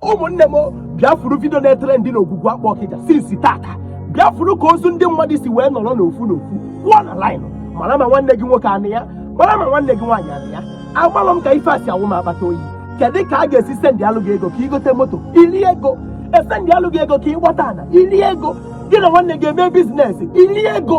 ụmụnne m bịa fụrụ video na-trend n'Ogwugwu Akpụ Ọkịja since taata bịa fụrụ ka ozu ndị mmadụ si wee nọrọ n'ofu n'ofu kwụọ na line mara ma nwanne gị nwoke anọ ya mara ma nwanne gị nwaanyị anọ ya agbalụ m ka ife a si awụ m akpata oyi kedu ka a ga-esi sendịalụ gị ego ka i gote moto i lie ego e sendịalụ gị ego ka ị gbata ana i lie ego gị na nwanne gị eme business i lie ego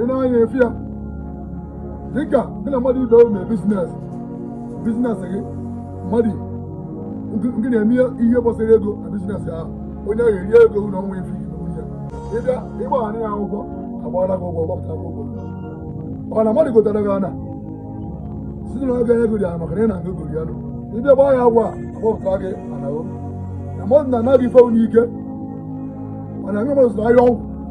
ị na-anya efi ya dịka gị na mmadụ ibe unu mee business business gị mmadụ gị na-eme ihe gbasara ego na business ahụ onye ahụ erie ego na ọnwa efi nwunye ị bịa ị gbaara ya akwụkwọ agbara gị ụgwọ gbapụta gị ụgwọ ọ na mmadụ gotara gị ana site na oge ego dị ana maka na ị na-aga egori ya nụ ị bịa gbaa ya agwa agbapụta gị ana na mmadụ nara gị ife n'ike mana nwe mmadụ zụrụ ahịa ọgwụ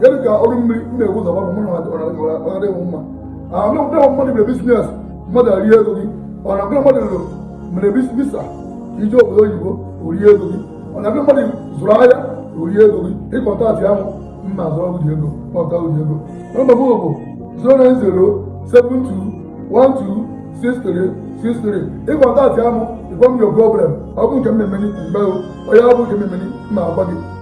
gịnị ka ọrụ mmiri m na-ebu ụzọ mmadụ mụrụ ọnara ịnwụ mma anụ mkpụrụ mmadụ mere business mmadụ erie ego gị ọ na gị na mmadụ mere visa ije obodo oyibo o rie ego gị ọ na gị na mmadụ zụrụ ahịa o rie ego gị ị kọntaktịa m mma zụrụ ọgwụ dị ego kpọta ụdị ego nọmba m bụ 09072126363 ị kọntaktịa m ị gwa m your problem ọ bụ nke m ma-eme mgbe onye ọ bụ nke m ma-eme m agwa gị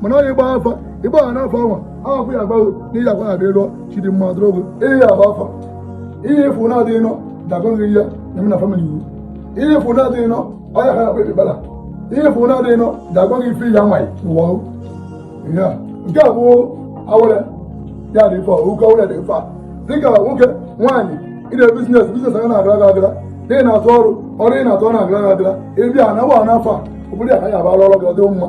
mana ọ ịgba afa ị gbaa n'afa ọnwa ahụ ya agbaghị n'ihi agwa na adịrọ chidimma adịrọgo ihe ya agba afa ihe efu na-adịghị nọ dagọghị ya na-eme na family iwu ihe efu na-adịghị nọ ọya ha akpịrị bala ihe efu na-adịghị nọ dagọghị ife ya nwaanyị n'ụwa ya nke a bụ awere ya dị ife oke awere dị ife a dịka nwoke nwaanyị ị na-eme business business a na-agara gị agara na ị na-arụ ọrụ ọrụ ị na-arụ ọ na-agara gị agara ị bịa na agba n'afa a obodo ya ka ya abara ọrụ gị ọ dị mma